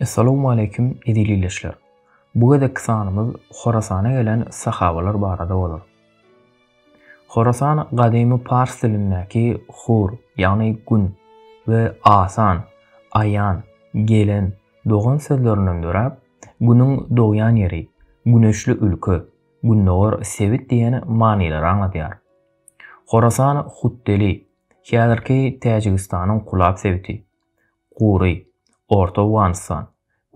Essalamu aleýkum eziz ildeşler. Bu gezekki sanymyz Horasana gelen sahabalar barada bolar. Horasan gadymy pars dilindäki hur, ýagny gün we asan, aýan, gelen, dogan sözlerinden döräp, günüň dogýan ýeri, güneşli ülke, gündogar sebit diýen manylara aňladýar. Horasan Hutdeli, Häzirki Täjigistanyň Kulab sebiti, Gury, Orta Owganystan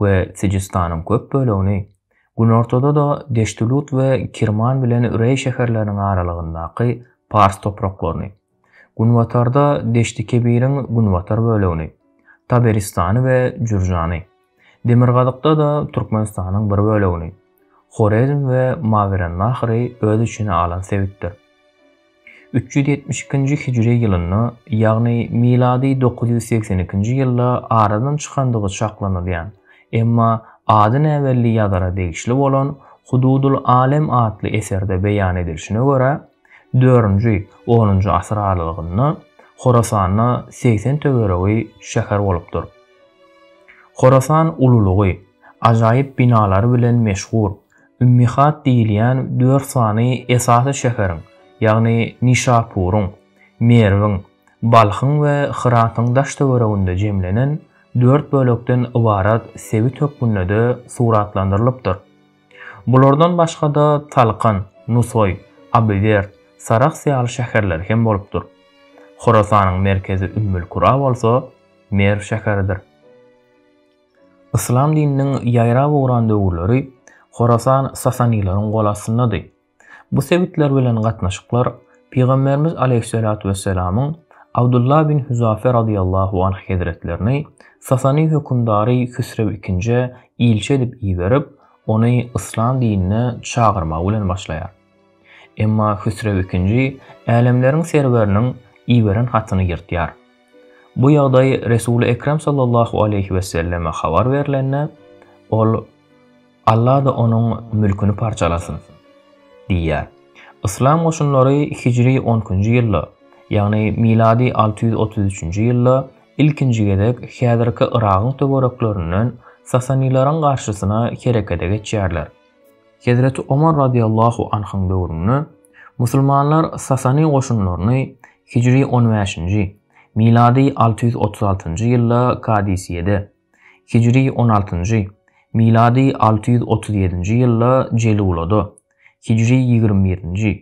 we Sijistanyň köp bölegini, günortada-da Deştülut we Kirman bilen Reý şäherleriniň aralygyndaky pars topraklaryny, günbatarda Deşti-Kebiriň günbatar bölegini, Taberistany we Jürjany, Demirgazykda-da Türkmenistanyň bir bölegini, Horezm we Mawerennahry öz içine alan sebitdir. Üç ýüz ýetmiş ikinji hijri ýylynda, ýagny milady dokuz ýüz segsen ikinji ýylda aradan çykandygy çaklanylýan, emma ady näbelli ýazara degişli bolan Hududul Alem atly eserde beýan edilişine görä, dörünji, onunjy asyr aralygynda Horasanda segsen töweregi şäher bolupdyr. Horasan ululygy, ajaýyp binalary bilen meşhur, Ümmihat diýilýän dört sany esasy şäheriň, ýagny Nişapuryň, Merwiň, Balhyň we Hyratyň daş-töwereginde jemlenen dört bölekden ybarat sebit hökmünde-de suratlandyrylypdyr. Bulardan başga-da Talkan, Nusaý, Abiwerd, Sarahs ýaly şäherleri hem bolupdyr. Horasanyň merkezi Ümmül-Kura bolsa Merw şäheridir. Yslam dininiň ýaýrap ugran döwürleri Horasan sasanilaryň gol astyndady. Bu sebitler bilen gatnaşyklar Pygamberimiz Aleýhissalatu wesselamyň Abdullah bin Huzafe radyýallahu anh hezretlerini Sasani hökümdary Hüsrew ikinjä ilçi edip iberip, ony yslam dinine çagyrmagy bilen başlaýar. Emma Hüsrew ikinji Älemleriň Serweriniň iberen hatyny ýyrtýar. Bu ýagdaý Resuly Ekrem sallallahu aleýhi weselleme habar berlende, ol, Alla-da onuň mülküni parçalasyn! diýýär. Yslam goşunlary hijri on ikinji ýylda, ýagny milady alty ýüz otuz üçünji ýylda ilkinji gezek häzirki Yragyň töwereklerinden sasanilaryň garşysyna herekete geçýärler. Hezreti Omar radiýallahu anhyň döwründe musulmanlar Sasani goşunlaryny hijri on bäşinji, milady alty ýüz otuz altynjy ýylda Kadisiýede, hijri on altynjy, milady alty ýüz otuz ýedinji ýylda Jelulada, hijri ýigrimi birinji,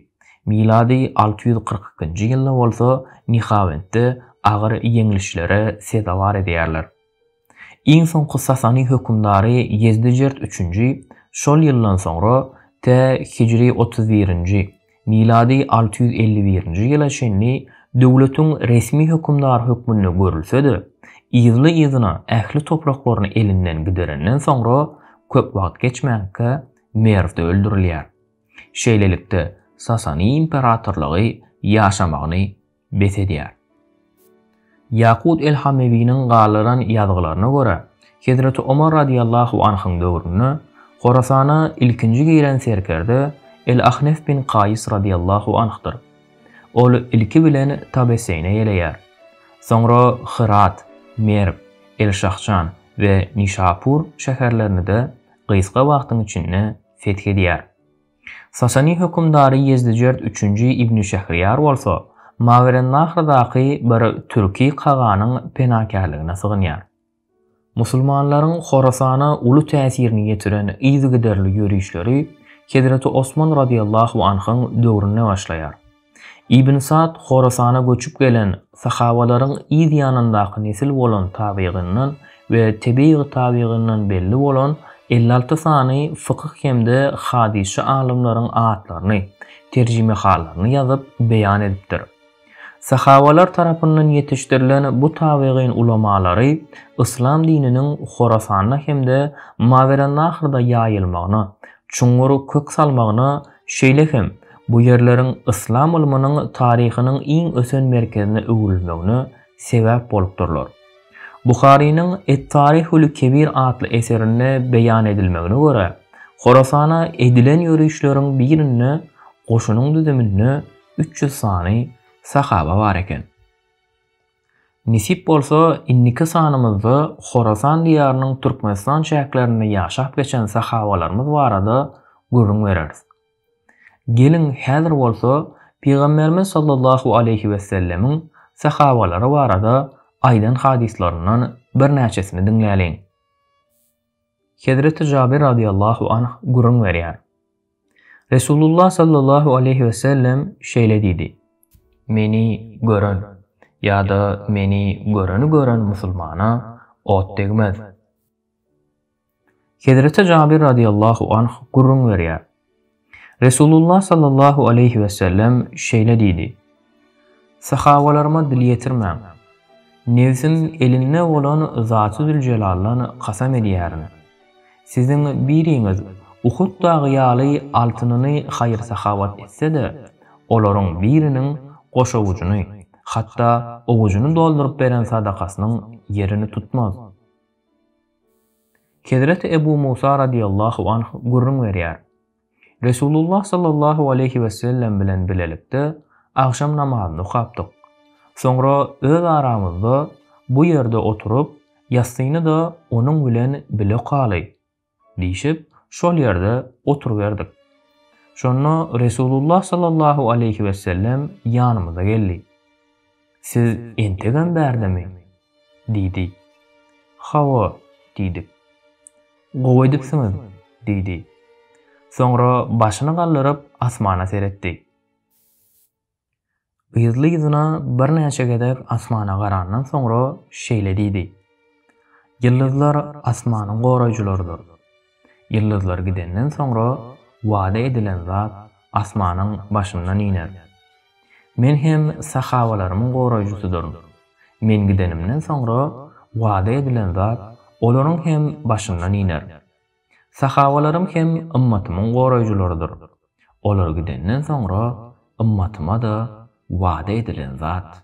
milady alty ýüz kyrk ikinji ýylda bolsa Nihawendde agyr ýeňlişlere sezewar edýärler. Iň soňky sasany hökümdary Ýezdijert üçünji şol ýyldan soňra tä hijri otuz birinji, milady alty ýüz elli birinji ýyla çenli döwletiň resmi hökümdary hökmünde görülse-de, yzly-yzyna ähli topraklaryny elinden giderenden soňra köp wagt geçmänkä Merwde öldürilýär. Şeýlelikde, Sasany imperatorlygy ýaşamagyny bes edýär. Ýakut el-Hamewiniň galdyran ýazgylaryna görä, hezreti Omar radyýallahu anhyň döwründe Horasana ilkinji giren serkerde el-Ahnef bin Kaýys radyýallahu anhdyr. Ol ilki bilen Tabeseýne ýeleýär. Soňra Hyrat, Merw, el-Şahjan we Nişapur şäherlerini-de gysga wagtyň içinde feth edýär. Sasany hökümdary Ýezdijert üçünji ibni Şähriýar bolsa, Mawerennahyrdaky bir türki kaganyň penakärligine sygynýar. Musulmanlaryň Horasana uly täsirini ýetiren yzygiderli ýörişleri Hezreti Osman radiyallahu anhyň döwründe başlaýar. Ibn Sa'd Horasana göçüp gelen sahawalaryň yz ýanyndaky nesil bolan tabygyndan we tebigy tabygyndan belli bolan elli alty sany fykyh hem-de hadysçy alymlaryň atlaryny, terjimehalaryny ýazyp, beýan edipdir. Sahawalar tarapyndan ýetişdirilen bu tabygyn ulamalary yslam dininiň Horasanda hem-de Mawerennahyrda ýaýylmagyna, çuňňur kök salmagyna Şeýle hem, bu ýerleriň yslam ylmynyň taryhynyň iň ösen merkezine öwrülmegine sebäp bolupdyrlar. Buharynyň Et-Taryhul-Kebir atly eserinde beýan edilmegine görä, Horasana edilen ýörişleriň birinde goşunyň düzüminde üç ýüz sany sahaba bar eken. Nesip bolsa, indiki sanymyzda Horasan diýarynyň Türkmenistan çäklerinde ýaşap geçen sahabalarymyz barada gürrüň bereris. Geliň, häzir bolsa Pygamberimiz sallallahu aleýhi wessellemiň sahabalary barada aýdan hadyslaryndan birnäçesini diňläliň. Hezreti Jabir radiallahu anh gürrüň berýär. Resulullah sallallahu aleyhi ve sellem şeýle diýdi, Meni gören, ýa-da meni göreni gören musulmana ot degmez. Hezreti Jabir radiallahu anh gürrüň berýär. Resulullah sallallahu aleýhi wesellem şeýle diýdi, Sahabalaryma dil ýetirmäň. Nebsim elinde bolan Zatydüljelaldan kasam edýärin, siziň biriňiz Uhud dagy ýaly altynyny haýyr-sahawat etse-de, olaryň biriniň goşawujyny, hatda owujyny dolduryp beren sadakasynyň ýerini tutmaz. Hezreti Ebu Musa radiýallahu anh gürrüň berýär, Resulullah sallallahu aleýhi wesellem bilen bilelikde agşam namazyny okapdyk. Soňra öz aramyzda Bu ýerde oturyp, ýassyny-da onuň bilen bile okaly diýşip, şol ýerde oturyberdik. Şonda Resulullah sallallahu aleýhi wesellem ýanymyza geldi. Siz entegem bärdemi? diýdi. Hawa, diýdik. Gowy edipsiňiz, diýdi. Soňra başyny galdyryp asmana seretdi. Yzly-yzyna birnäçe gezek asmana garandan soňra şeýle diýdi. Ýyldyzlar asmanyň goraýjylarydyr. Ýyldyzlar gidenden soňra wada edilen zat asmanyň başyndan iner. Men hem sahabalarymyň goraýjysydyryn. Men gidenimden soňra wada edilen zat olaryň hem başyndan iner. Sahabalarym hem ymmatymyň goraýjylarydyr. Olar gidenden soňra ymmatyma-da wada edilen zat